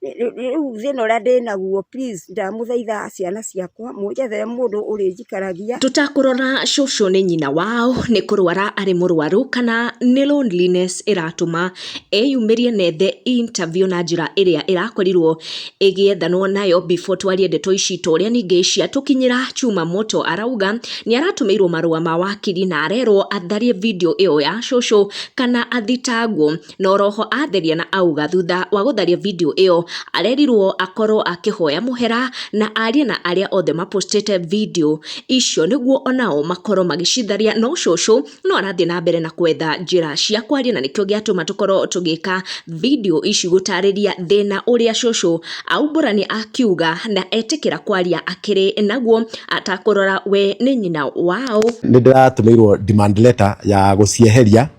rĩu thĩna ũrĩa ndĩnaguo please ndamũthaitha ciana ciakwa mũnjethere mũndũ ũrĩnjikaragia. Tũtakũrora cũcũ nĩ nyina wao nĩ kũrwara arĩ mũrwaru kana nĩ loneliness ĩratũma eyumĩrie na ethe interview na njĩra ĩrĩa ĩrakorirwo ĩgĩethanwo nayo before twarie ndeto ici ta ũrĩa ningĩ ciatũkinyĩra Chuma Moto arauga nĩ aratũmĩirwo marũa ma wakiri na arerwo atharie video ĩyo ya cũcũ kana athitangwo. na oroho atheria na auga thutha wa gũtharia video ĩyo arerirwo akorwo akĩhoya mũhera na arie na arĩa othe mapostĩte video icio nĩguo onao makorwo magĩcitharia no cũcũ no arathiĩ na mbere na kwetha njĩra cia kwaria na nĩkĩo gĩatũma tũkorwo tũgĩka video ici gũtarĩria thĩna ũrĩa cũcũ aumbũrani akiuga na etĩkĩra kwaria akĩrĩ naguo atakũrora we nĩ nyina wao nĩ ndĩratũmĩirwo demand letter ya gũcieheria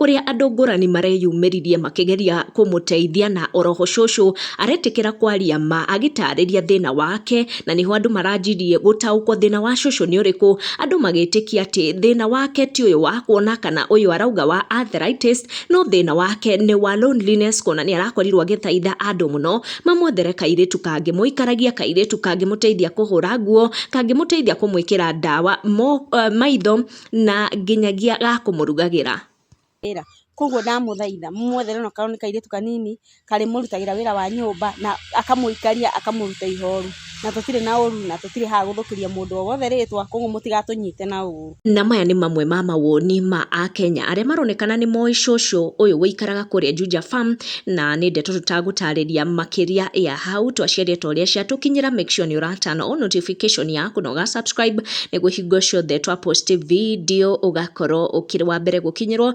ũrĩa andũ ngũrani mareyumĩririe makĩgeria kũmũteithia na oroho cũcũ aretĩkĩra kwaria ma agĩtarĩria thĩna wake na nĩho andũ maranjirie gũtaũkwo thĩna wa cũcũ nĩ ũrĩkũ andũ magĩtĩkia atĩ thĩna wake ti ũyũ wa kuona kana ũyũ arauga wa arthritis no thĩna wake nĩ wa loneliness kuona nĩ arakorirwo agĩthaitha andũ mũno mamwethere kairĩtu kangĩmũikaragia kairĩtu kangĩmũteithia kũhũra nguo kangĩmũteithia kũmwĩkĩra ndawa mo, uh, maitho na nginyagia ga kũmũrugagĩra. Koguo ndamũthaitha mũmwethere ona akorwo nĩ kairĩtu kanini karĩmũrutagĩra wĩra wa nyũmba na akamũikaria akamũruta ihoru. Na tũtirĩ na ũru na tũtirĩ haha gũthũkĩria mũndũ o wothe rĩtwa koguo mũtigatũnyite na ũru. Na maya nĩ mamwe ma mawoni ma Akenya arĩa maronekana nĩ moĩ cũcũ ũyũ ũikaraga kũrĩa Juja Farm. na nä ndeto tå tagåtarä makĩria ya hau twaciarĩtwo ũrĩa ciatũkinyĩra make sure nĩ ũratana o notification ya kũnoga subscribe nĩguo hingo ciothe twa post video ũgakorwo ũkĩrĩ wa mbere gũkinyĩrwo